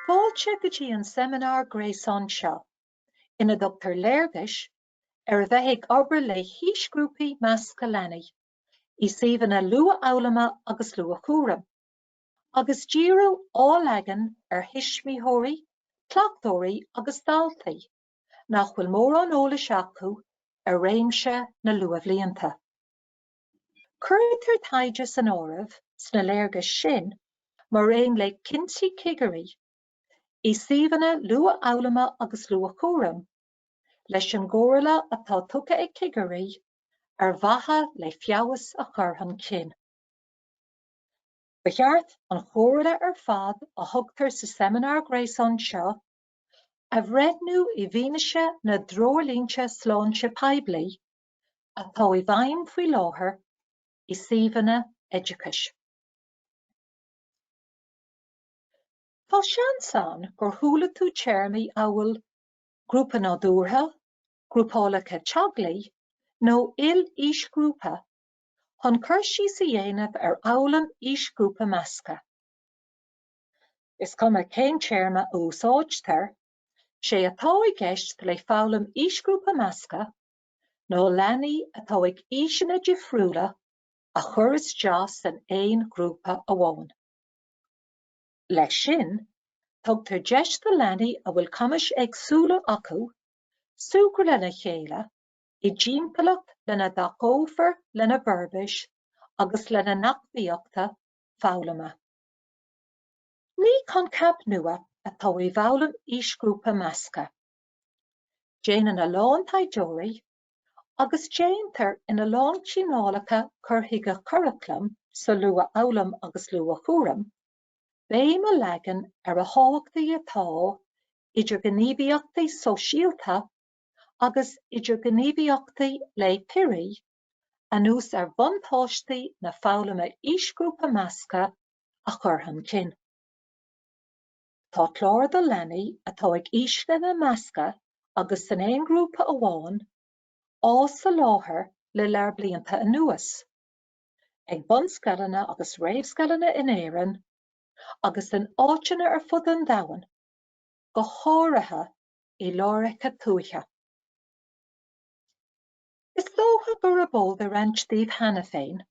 Fáilte go dtí an seimineár gréasáin seo, ina dtugtar léargas ar a bheith ag obair le haoisghrúpaí measctha leanaí i suíomhanna luathfhoghlama agus luathchúraim. agus díriú á leagan ar thuismitheoirí, cleachtóirí agus daltaí nach bhfuil mórán eolais acu ar réimse na luathbhlianta. Cuirtear taighde san áireamh sna léargais sin mar aon le cinntí cigirí i suíomhanna luathfhoghlama agus luathchúraim, leis an gcomhairle atá tugtha ag cigirí ar mhaithe le feabhas a chur chun cinn. Ba cheart an chomhairle ar fad a thugtar sa seimineár gréasáin seo a bhreithniú i bhfianaise na dtreoirlínte sláinte poiblí atá i bhfeidhm faoi láthair i suíomhanna oideachais. Tá seans ann gur chuala tú téarmaí amhail 'grúpa nádúrtha', 'grúpálacha teaghlaigh' nó 'il-aoisghrúpa' chun cur síos a dhéanamh ar fhoghlaim aoisghrúpa measctha. Is cuma cén téarma a úsáidtear, sé atá i gceist le foghlaim aoisghrúpa measctha ná leanaí atá ag aoiseanna difriúla a chur isteach san aon ghrúpa amháin. Leis sin, tugtar deis do leanaí a bhfuil cumais éagsúla acu súgradh lena chéile i dtimpeallacht lena dtacófar lena bhforbairt agus lena n-acmhainneacht foghlama. Ní coincheap nua atá i bhfoghlaim aoisghrúpa measctha. Déanann a lán taighdeoirí, agus déantar in a lán cineálacha cur chuige curaclaim sa luathfhoghlaim agus luathchúram, béim a leagan ar a thábhachtaí atá idirghníomhaíochtaí sóisialta agus idirghníomhaíochtaí le piaraí, anuas ar bhuntáistí na foghlama aoisghrúpa measctha, a chur chun cinn. Tá cláir do leanaí atá ag aoiseanna measctha agus san aon ghrúpa amháin, á soláthar le lear blianta anuas, ag bunscoileanna agus réamhscoileanna in Éirinn agus in áiteanna ar fud an domhain, go háirithe i láithreacha tuaithe. Is dócha gurb eol do roinnt daoibh cheana féin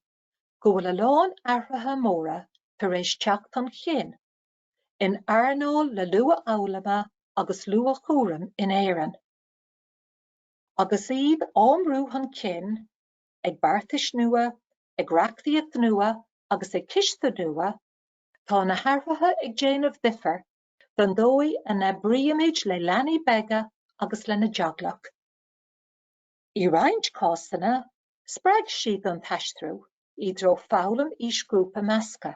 go bhfuil a lán athruithe móra tar éis teacht chun chinn in earnáil na luathfhoghlama agus luathchúraim in Éirinn. Agus iad á mbrú chun cinn ag beartais nua, ag reachtaíocht nua agus ag cistiú nua, tá na hathruithe ag déanamh difear Don dóigh a n-oibrímid le leanaí beaga agus lena dteaghlach. I roinnt cásanna, spreag siad an t-aistriú i dtreo foghlaim aoisghrúpa measctha,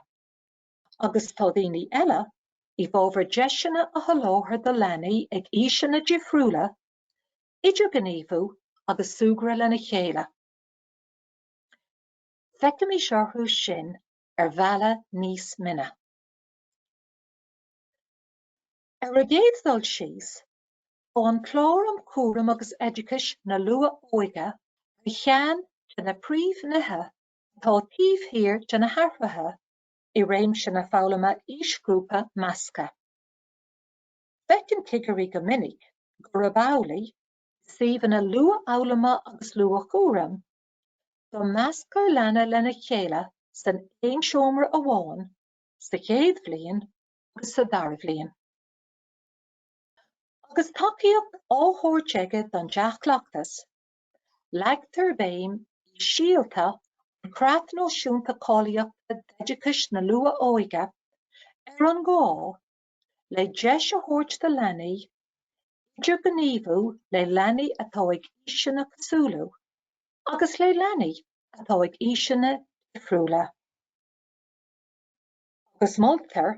agus tá daoine eile i bhfabhar deiseanna a sholáthar do leanaí ag aoiseanna difriúla idirghníomhú agus súgradh lena chéile. Feicimís orthu sin ar bhealach níos mine. Ar an gcéad dul síos, tá an Clár um Chúram agus Oideachais na Luath-Óige ar cheann de na príomhnithe atá taobh thiar de na hathruithe i réimse na foghlama aoisghrúpa measctha. Feiceann cigirí go minic gurb amhlaidh, i suíomhanna luathfhoghlama agus luathchúraim, go measctar leanaí lena chéile san aon seomra amháin sa chéad bhliain agus sa dara bhliain. Agus tacaíocht á thabhairt aige don deachleachtas, leagtar béim i Síolta, an Creat Náisiúnta Cáilíochta d'Oideachais na Luath-Óige ar an ngá le deis a thabhairt do leanaí idirghníomhú le leanaí atá ag aoiseanna cosúla agus le leanaí atá ag aoiseanna difriúla. agus moltar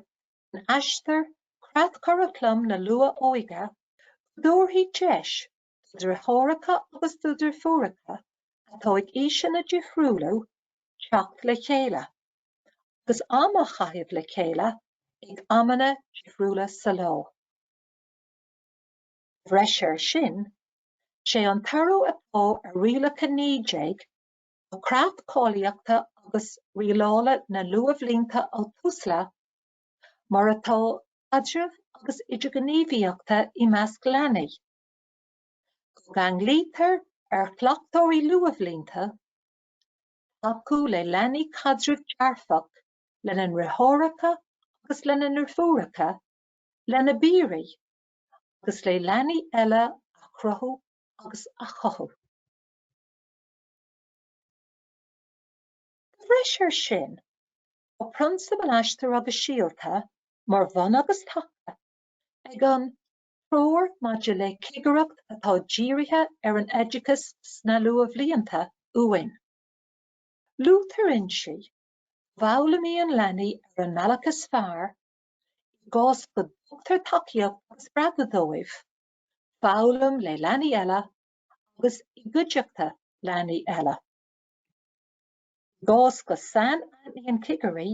in Aistear creatchuraclam na luath-óige go dtabharfaí deis do dheartháireacha agus do dheirfiúracha atá ag aoiseanna difriúla teacht le chéile agus am a chaitheamh le chéile ag amanna difriúla sa lá. De bhreis air sin, is é an toradh atá ar rialachán 19, de chreat cáilíochta agus rialála na luathbhlianta ó Tusla, mar atá caidrimh agus idirghníomhaíochtaí i measc leanaí. Go gceanglaítear ar chleachtóirí luathbhlianta tacú le leanaí caidreamh dearfach lena ndeartháireacha agus lena ndeirfiúracha, lena bpiaraí agus le leanaí eile a chruthú agus a chothú. De bhreis ar sin, tá prionsabail Aistear agus Síolta mar bhun agus taca ag an Treoir maidir le Cigireacht atá dírithe ar an Oideachas sna Luathbhlianta uainn. Luaitear inti go bhfoghlaimíonn leanaí ar an mbealach is fearr, i gcás go dtugtar tacaíocht agus spreagadh dóibh, foghlaim le leanaí eile agus i gcuideachta leanaí eile. I gcás go sainaithníonn cigirí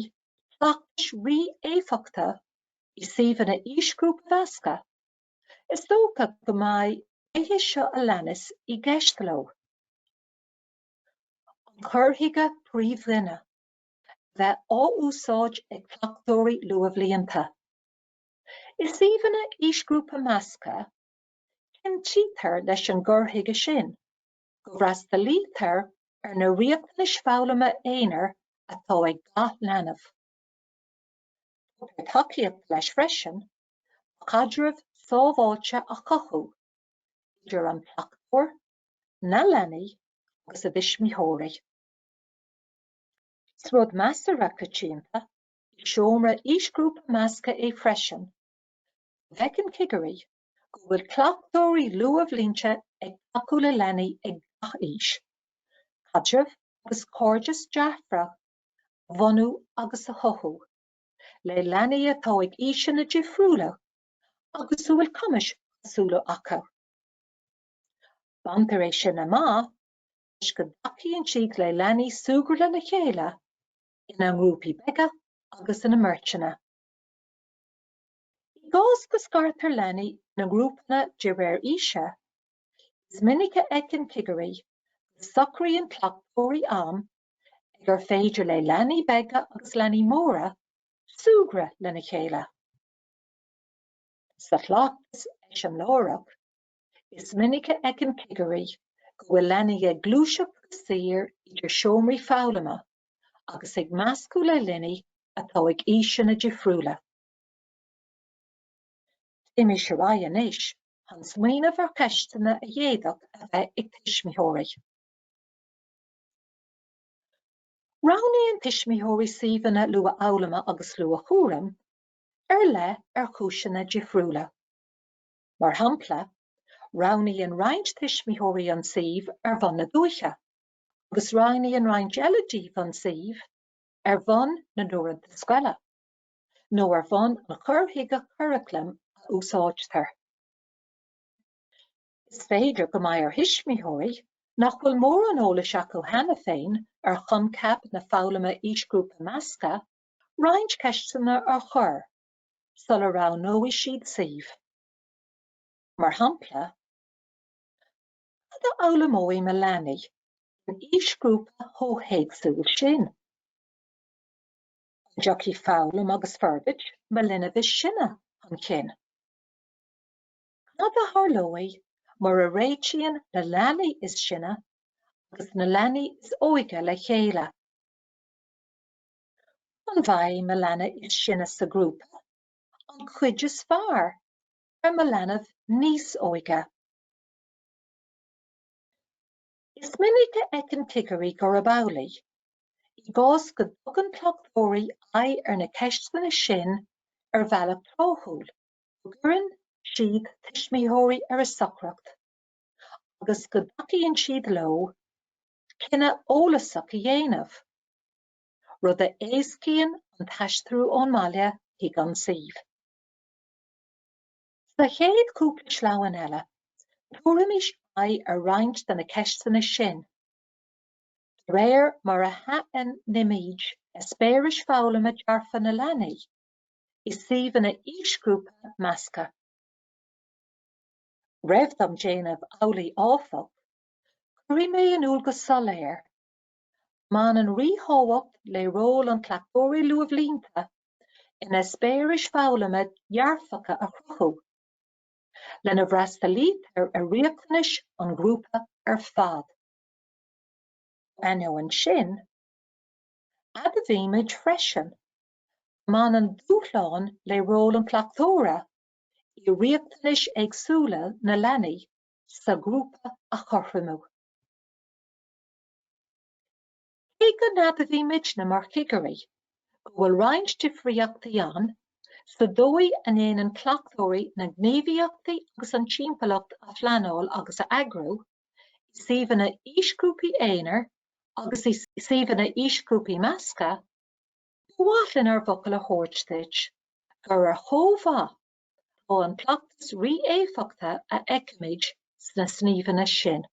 cleachtais rí-éifeachtach i suíomhanna aoisghrúpa measctha, is dócha go mbeidh na nithe seo a leanas i gceist leo, an cur chuige príomhdhuine a bheith á úsáid ag cleachtóirí luathbhlianta. I suíomhanna aoisghrúpa measctha, Cinntítear leis an gcur chuige sin go bhfreastalaítear ar na riachtanais foghlama aonair atá ag gach leanbh. Tugtar tacaíocht leis freisin le caidreamh sábháilte a chothú idir an cleachtóir, na leanaí agus a dtuismitheoirí. Is rud measartha coitianta i seomra aoisghrúpa measctha é freisin go bhfeiceann cigirí go bhfuil cleachtóirí luathbhlianta ag tacú le leanaí ag gach aois, caidreamh agus cairdeas dearfach a bhunú agus a chothú le leanaí atá ag aoiseanna difriúla agus a bhfuil cumais éagsúla acu. Baintear é sin amach toisc go dtacaíonn siad le leanaí súgradh lena chéile ina ngrúpaí beaga agus ina mbeirteanna. I gcás go scartar leanaí ina ngrúpanna de réir aoise, is minic a fheiceann cigirí go socraíonn cleachtóirí amanna ar féidir le leanaí beaga agus leanaí móra súgradh lena chéile. Sa chleachtas eiseamláireach, is minic a fheiceann cigirí go bhfuil leanaí ag gluaiseacht go saor idir seomraí foghlama agus ag meascadh le leanaí atá ag aoiseanna difriúla. Téimis ar aghaidh anois chun smaoineamh ar cheisteanna a d'fhéadfadh a bheith ag tuismitheoirí. Roghnaíonn tuismitheoirí suíomhanna luathfhoghlama agus luathchúraim ar leith ar chúiseanna difriúla. Mar shampla, roghnaíonn roinnt tuismitheoirí an suíomh ar bhonn na dúiche agus roghnaíonn roinnt eile díobh an suíomh ar bhonn na n-uaireanta oscailte. nó ar bhonn an chur chuige curaclaim a úsáidtear. Is féidir go mbeidh ar thuismitheoirí nach bhfuil mórán eolais acu cheana féin ar choincheap na foghlama aoisghrúpa measctha roinnt ceisteanna a chur sula roghnóidh siad suíomh. Mar shampla, Cad a fhoghlaimeoidh mo leanbh in aoisghrúpa comhthéacsúil sin? An dtiocfaidh foghlaim agus forbairt mo linbh is sine chun cinn. Cad a tharlóidh mura réitíonn na leanaí is sine agus na leanaí is óige le chéile? An bhfaighidh na leanaí is sine sa ghrúpa an chuid is fearr ar mo leanbh níos óige? Is minic a fheiceann cigirí gurb amhlaidh, i gcás go dtugann cleachtóirí aghaidh ar na ceisteanna sin ar bhealach tráthúil, go gcuireann siad tuismitheoirí ar a suaimhneas agus go dtacaíonn siad leo cinneadh eolasach a dhéanamh, rud a éascaíonn an t-aistriú ón mbaile chuig an suíomh. Sa chéad chúpla sleamhnán eile, tabharfaimid aghaidh ar roinnt de na ceisteanna sin de réir mar a shainaithnímid eispéiris foghlama dearfacha leanaí i suíomhanna aoisghrúpa measctha. Roimh dom déanamh amhlaidh áfach, cuirfidh mé in iúl go soiléir mbaineann ríthábhacht le ról an chleachtóra luathbhlianta in eispéiris foghlama dhearfacha a chruthú, lena bhfreastalaítear ar riachtanais an ghrúpa ar fad. Dá ainneoin sin, admhaímid freisin go mbaineann dúshláin le ról an chleachtóra i riachtanais éagsúla na leanaí sa ghrúpa a chothromú. Cé go n-admhaímidne mar chigirí go bhfuil roinnt difríochtaí ann sa dóigh a ndéanann cleachtóirí na gníomhaíochtaí agus an timpeallacht a phleanáil agus a eagrú, i suíomhanna aoisghrúpaí aonair agus i suíomhanna aoisghrúpaí measctha, ba mhaith linn ár bhfocal a thabhairt duit gur ar chomh-mhaith atá an cleachtas rí-éifeachtach a fheicimid sna suíomhanna sin.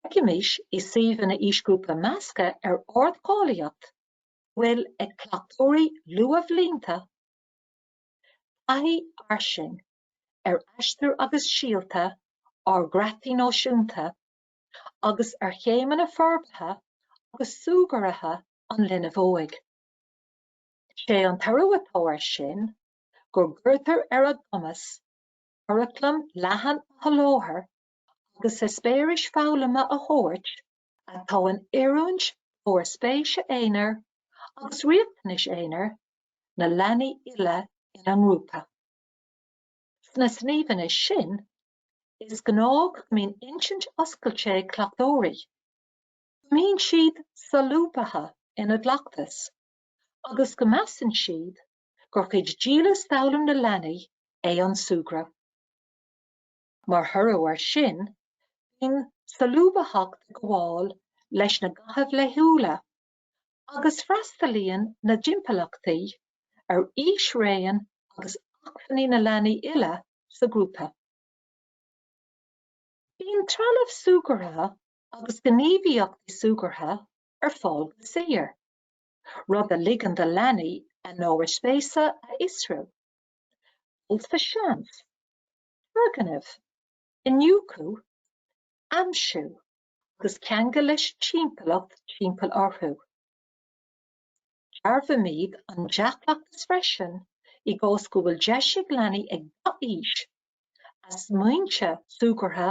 Feicimid i suíomhanna aoisghrúpa measctha ar ardcháilíocht go bhfuil ag cleachtóirí luathbhlianta taithí fhairsing ar Aistear agus Síolta ár gcreataí náisiúnta agus ar chéimeanna forbartha agus súgartha an linbh óig. Is é an toradh atá ar sin go gcuirtear ar a gcumas curaclam leathan a sholáthar agus eispéiris foghlama a thabhairt atá in oiriúint d'ábhair spéise aonair agus riachtanais aonair na leanaí uile ina ngrúpa. Sna suíomhanna sin, is gnáth go mbíonn intinn oscailte ag cleachtóirí, go mbíonn siad solúbtha ina gcleachtas agus go measann siad gur cuid dílis d'fhoghlaim na leanaí é an súgradh. Mar thoradh air sin, bíonn solúbthacht ag gabháil leis na gnáthaimh laethúla agus freastalaíonn na timpeallachtaí ar aoisraon agus acmhainní na leanaí uile sa ghrúpa. Bíonn trealamh súgartha agus gníomhaíochtaí súgartha ar fáil go saor. rud a ligeann do leanaí a n-ábhair spéise a fhiosrú, dul sa seans, turgnaimh, iniúchadh, aimsiú agus ceangal leis an timpeallacht timpeall orthu. Dearbhaímid an dea-chleachtas freisin i gcás go bhfuil deis ag leanaí ag gach aois a smaointe súgartha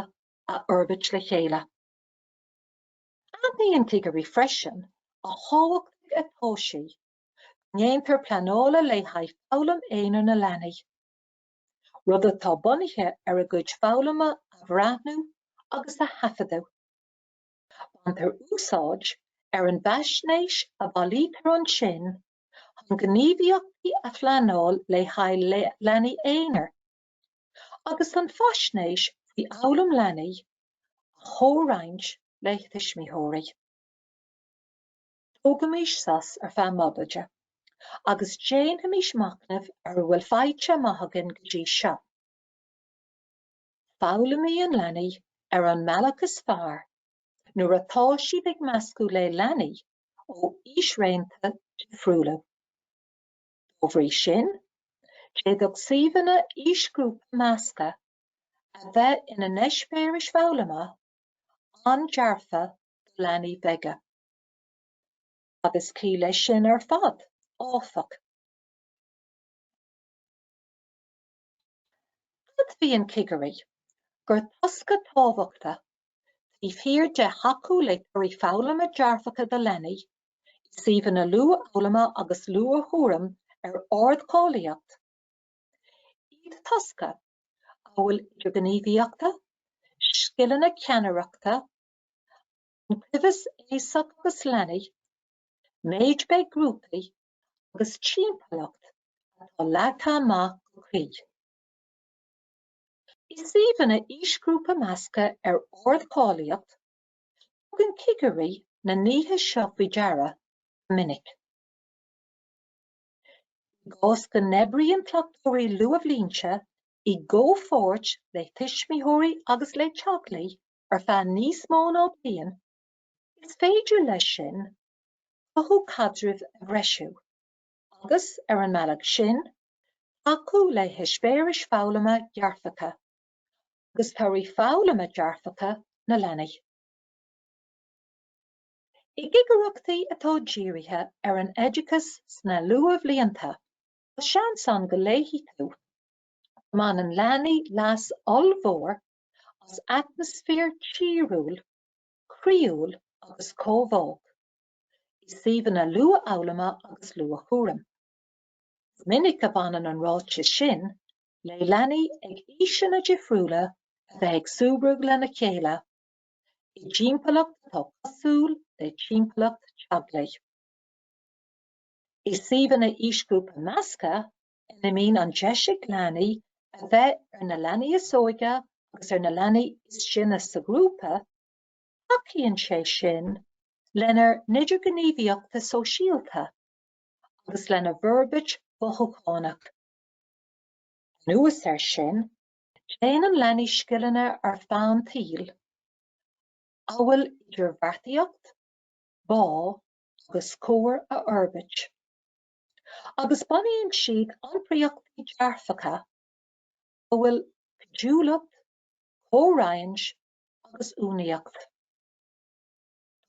a fhorbairt le chéile. Aithníonn cigirí freisin a thábhachtaí atá sé go ndéantar pleanáil le haghaidh foghlaim aonair na leanaí, rud atá bunaithe ar a gcuid foghlama a bhreathnú agus a thaifeadadh. Baintear úsáid as an bhfaisnéis a bhailítear ansin chun gníomhaíochtaí a phleanáil le haghaidh leanaí aonair. agus chun faisnéis faoi fhoghlaim leanaí a chomhroinnt le tuismitheoirí. Tógaimis sos ar feadh móimide agus déanaimis machnamh ar a bhfuil faighte amach againn go dtí seo. Foghlaimíonn leanaí ar an mbealach is fearr nuair atá siad ag meascadh le leanaí ó aoisraonta difriúla. Dá bhrí sin, d'fhéadfadh suíomhanna aoisghrúpa measctha a bheith ina n-eispéiris foghlama an-dearfa do leanaí beaga. Agus cé go sin ar fad, áfach, Tuigeann cigirí gur tosca tábhachtacha taobh thiar de thacú le torthaí foghlama dearfacha do leanaí i suíomhanna luathfhoghlama agus luathchúraim ar ardcháilíocht iad tosca amhail idirghníomhaíochtaí, scileanna ceannaireachta, an cuibheas aosach agus leanaí, méid beag grúpaí, agus timpeallacht atá leagtha amach go cuí. I suíomhanna aoisghrúpa measctha ar ardcháilíocht, tugann cigirí na nithe seo faoi deara go minic. I gcás go n-oibríonn cleachtóirí luathbhlianta i gcomhpháirt le tuismitheoirí agus le teaghlaigh ar feadh níos mó ná bliain, is féidir leis sin cothú caidreamh a threisiú, agus, ar an mbealach sin, tacú le heispéiris foghlama dhearfacha agus torthaí foghlama dearfacha na leanaí. I gcigireachtaí atá dírithe ar an oideachas sna luathbhlianta, tá seans ann go léifidh tú go mbaineann leanaí leas ollmhór as atmaisféar tíriúil, croíúil agus comhbhách i suíomhanna luathfhoghlama agus luathchúraim. Is minic a bhaineann an ráiteas sin le leanaí ag aoiseanna difriúla a bheith ag súgradh lena chéile i dtimpeallacht atá cosúil le timpeallacht teaghlaigh. I suíomhanna aoisghrúpa measctha, ina mbíonn an deis ag leanaí a bheith ar na leanaí is óige agus ar na leanaí is sine sa ghrúpa, tacaíonn sé sin lena n-idirghníomhaíochtaí sóisialta agus lena bhforbairt mhothúchánach. Anuas air sin, déanann leanaí scileanna ar feadh an tsaoil, amhail idirbheartaíocht, bá agus comhar a fhorbairt. agus bunaíonn siad iompraíochtaí dearfacha amhail cuidiúlacht, comhroinnt agus uainíocht.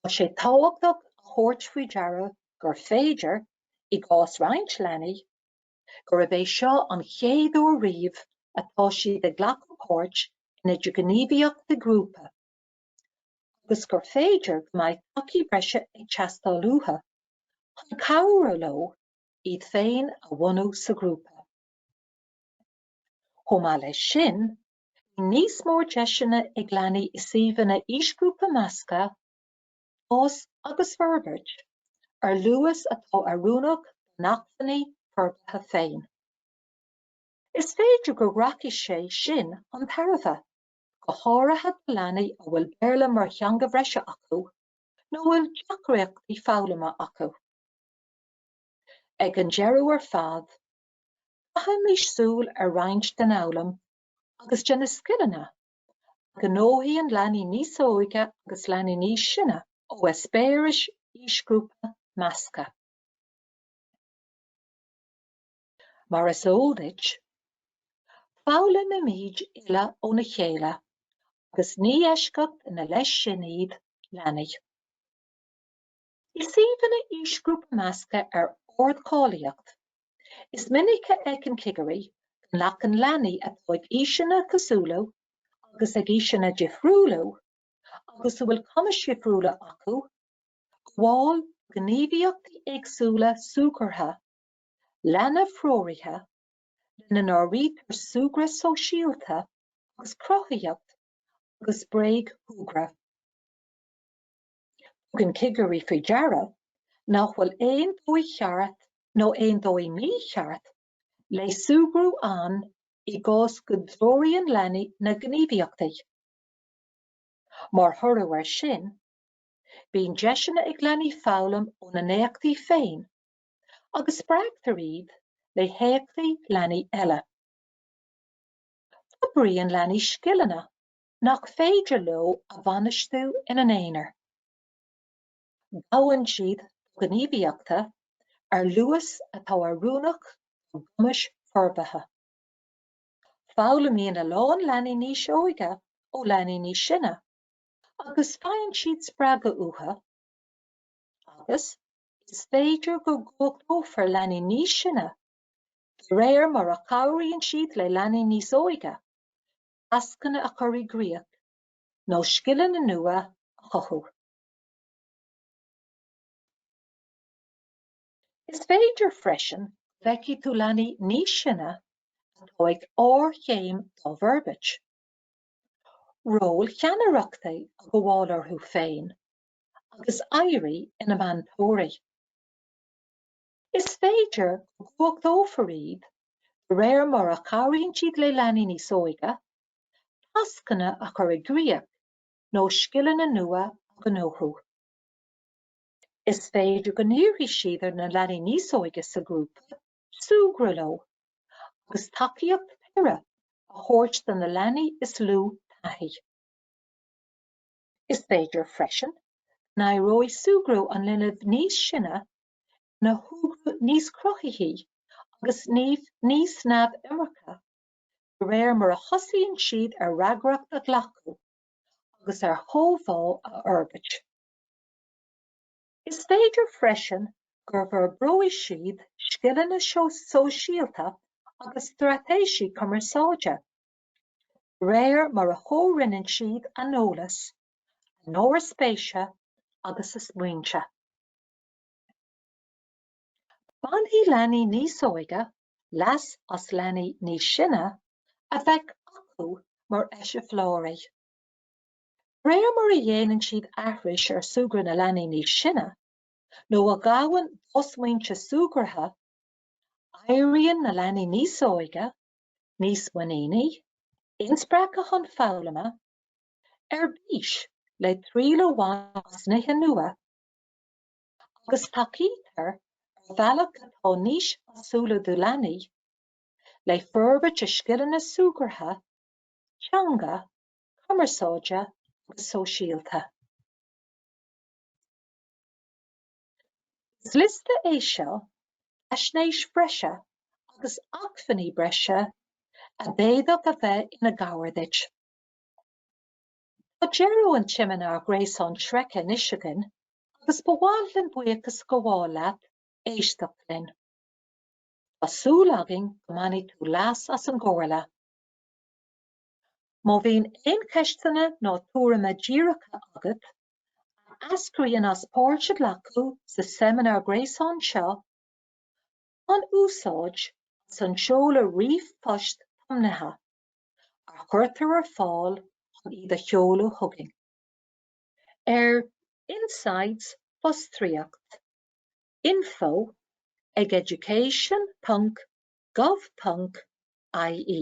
Tá sé tábhachtach a thabhairt faoi deara gur féidir, i gcás roinnt leanaí, gurb é seo an chéad uair riamh atá siad ag glacadh páirt in idirghníomhaíochtaí grúpa, agus gur féidir go mbeidh tacaí breise ag teastáil uathu chun cabhrú leo iad féin a bhunú sa ghrúpa. Chomh maith leis sin, beidh níos mó deiseanna ag leanaí i suíomhanna aoisghrúpa measctha fás agus forbairt ar luas atá oiriúnach dá n-acmhainní forbartha féin. Is féidir go rachaidh sé sin chun tairbhe. go háirithe do leanaí a bhfuil Béarla mar theanga bhreise acu nó a bhfuil deacraochtaí foghlama acu. Ag an deireadh ar fad, caithfimís súil ar roinnt den fhoghlaim agus de na scileanna a ghnóthaíonn leanaí níos óige agus leanaí níos sine ó eispéiris aoisghrúpa measctha. Mar is eol duit, foghlaimimid uile óna chéile agus ní eisceacht ina leith sin iad leanaí. I suíomhanna aoisghrúpa measctha ar ardcháilíocht, is minic a fheiceann cigirí go n-aithníonn leanaí atá ag aoiseanna cosúil leo agus ag aoiseanna difriúla leo agus a bhfuil cumais dhifriúla acu ag gabháil do ghníomhaíochtaí éagsúla súgartha leanbhthreoraithe, lena n-áirítear súgradh sóisialta agus cruthaitheacht agus bréagshúgradh. Tugann cigirí faoi deara nach bhfuil aon dóigh cheart nó aon dóigh mícheart le súgradh ann i gcás go dtreoraíonn leanaí na gníomhaíochtaí. Mar thoradh air sin, bíonn deiseanna ag leanaí foghlaim óna n-éachtaí féin agus spreagtar iad le héachtaí leanaí eile. Forbraíonn leanaí scileanna nach féidir leo a bhainistiú ina n-aonar. Gabhann siad do ghníomhaíochtaí ar luas atá oiriúnach dá gcumais forbartha. Foghlaimíonn a lán leanaí níos óige ó leanaí níos sine agus faigheann siad spreagadh uathu agus Is féidir go gcumhachtófar leanaí níos sine de réir mar a chabhraíonn siad le leanaí níos óige tascanna a chur i gcrích nó scileanna nua a chothú. Is féidir freisin go bhfeicfidh tú leanaí níos sine atá ag ardchéim dá bhforbairt, róil cheannaireachta a ghabháil orthu féin agus éirí ina meantóirí. Is féidir go gcumhachtófar iad de réir mar a chabhraíonn siad le leanaí níos óige tascanna a chur i gcrích nó scileanna nua a ghnóthú. Is féidir go n-iarrfaidh siad ar na leanaí níos óige sa ghrúpa súgradh leo agus tacaíocht piara a thabhairt do na leanaí is lú taithí. Is féidir freisin go n-éireoidh súgradh an linbh níos sine ina shúgradh níos cruthaithí agus níos neamhurchóidí de réir mar a thosaíonn siad ar fhreagracht a ghlacadh agus ar chomhbhá a fhorbairt. Is féidir freisin go bhforbróidh siad scileanna sóisialta agus straitéisí cumarsáide. de réir mar a chomhroinneann siad a n-eolas, a n-ábhar spéise agus a smaointe. Bainfidh leanaí níos óige leas as leanaí níos sine a bheith acu mar eiseamhláirí. De réir mar a dhéanann siad aithris ar shúgradh na leanaí níos sine, nó a ghabhann do smaointe súgartha, éiríonn na leanaí níos óige níos muiníní, inspreagtha chun foghlama, ar bís le triail a bhaint as nithe nua, agus tacaítear ar bhealach atá níos báúla do leanaí le forbairt a scileanna súgartha, teanga, cumarsáide agus sóisialta. Is liosta é seo d'fhaisnéis bhreise agus acmhainní breise a d'fhéadfadh a bheith ina gcabhair duit. Tá deireadh an tseimineáir gréasáin sroichthe anois againn agus ba mhaith linn buíochas a ghabháil leat as éisteacht linn. Tá súil againn go mbainfidh tú leas as an gcomhairle. Má bhíonn aon cheisteanna nó tuairimí díreacha agat a eascraíonn as páirt a ghlacadh sa seimineár gréasáin seo, bain úsáid as an seoladh ríomhphoist tiomnaithe a chuirtear ar fáil chun iad a sheoladh chugainn ar insights fostríoc info ag education.gov.ie.